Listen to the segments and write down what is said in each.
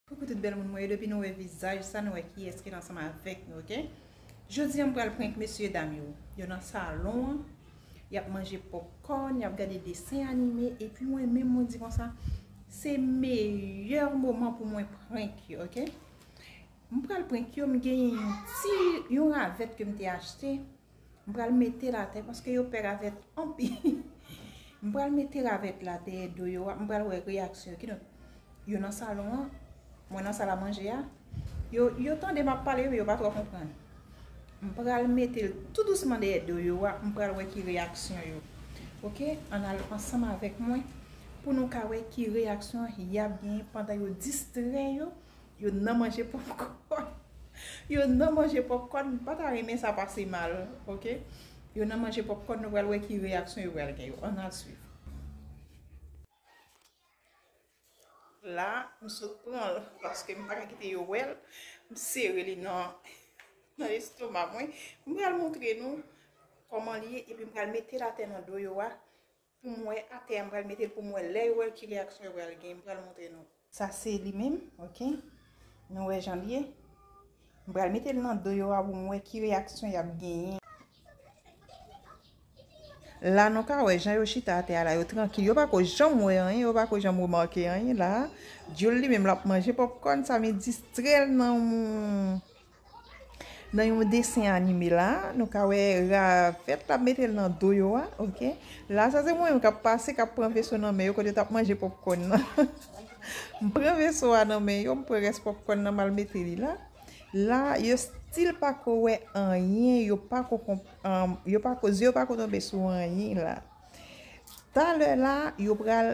Coucou tout bèl moun mwen yo depi nou wè vizaj sa nou wè kiyès ki ansanm avèk nou ok Jodi an m pral prank mesye dam yo yo nan salon an y ap manje popcorn y ap gade desen anime epi mwen menm mwen di konsa se meyè moman pou mwen prank yo ok M pral prank yo m genyen yon ti yon ravèt ke m te achte m pral mete l atè paske yo pè ravèt anpil m pral mete ravèt la dèyè do yo a m pral wè reyaksyon yo kidonk yo nan salon an mwen nan sal a manje a yo yo tande m ap pale men yo pa twò konprann m pral mete l tou dousman dèyè do yo a m pral wè ki reyaksyon yo ok ann al ansanm avèk mwen pou nou ka wè ki reyaksyon y ap genyen pandan yo distrè yo Yo nan manje popcorn. Yo nan manje popcorn. M pa ta renmen sa pase mal. Ok. Yo nan manje popcorn. Nou pral wè ki reyaksyon yo pral gen yo. An a swiv. La, m sot pran l. Paske m pa ka kite yo wè l. M sere li nan estoma mwen. M pral montre nou. Koman li ye. E pi m pral mete l atè nan do yo a. Pou mwen atè a m pral metel pou m wè lè yo wèl kilè aksyon yo pral gen m pral montre nou. Sa se li menm ok nou wè janl ye m pral metel nan do yo a pou m wè ki reyaksyon yap genyen. La nou ka wè jan yo chita atè a la yo trankil yo pako janm wè anyen yo pako janm remake anyen la dyol li menm lap manje popcorn sa men distrèl nan yon. Nan yon desen anime la nou ka wè ravèt la metel nan do yo a ok la sa se mwen menm kap pase kap pran veso nan men yo kote yo tap manje popkòn nan m pran veso a nan men yo m pran rès popkòn nan mal mete li la la yo stil pako wè anyen yo pako konprann yo pako zye yo pako tonbe sou anyen la talè la yo pral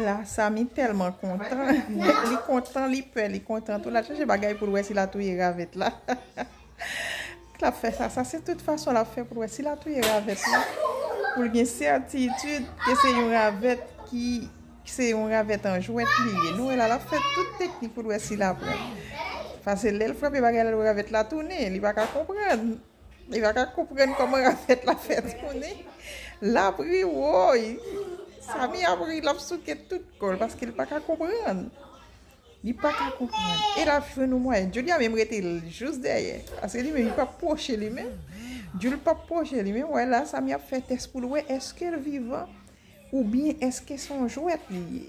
La samy telman kontan li kontan li pè li kontan tou lap chache bagay poul wè si la touye ravèt la lap fè sa sa se tout fason lap fè poul wè si la touye ravèt la poul gen sètitid ke se yon ravèt ki se yon ravèt an jwèt li ye nou wè la lap fè tout teknik poul wè si la pran pase lèl frape bagay la lou ravèt la tounen li pa ka konprann. Li pa ka konprann kòman Rafèt la fè touni. L ap ri woy! Samy ap ri, l ap souke tout kò l paske l pa ka konprann. Li pa ka konprann. E l ap jwenn yon mwayen. Julia menm rete jous dèyè. Paske li menm li pa p pwoche li menm. Jul pa p pwoche li menm. Wè la Samy ap fè tès pou l wè èske l vivan oubyen èske se yon jwèt li ye.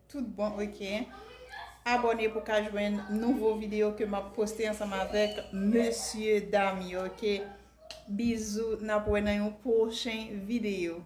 Tout bon ok. Abone pou ka jwenn nouvo video ke map poste ansanm avek mesye dam yo ok. Bizou nap wè nan yon pwochen video.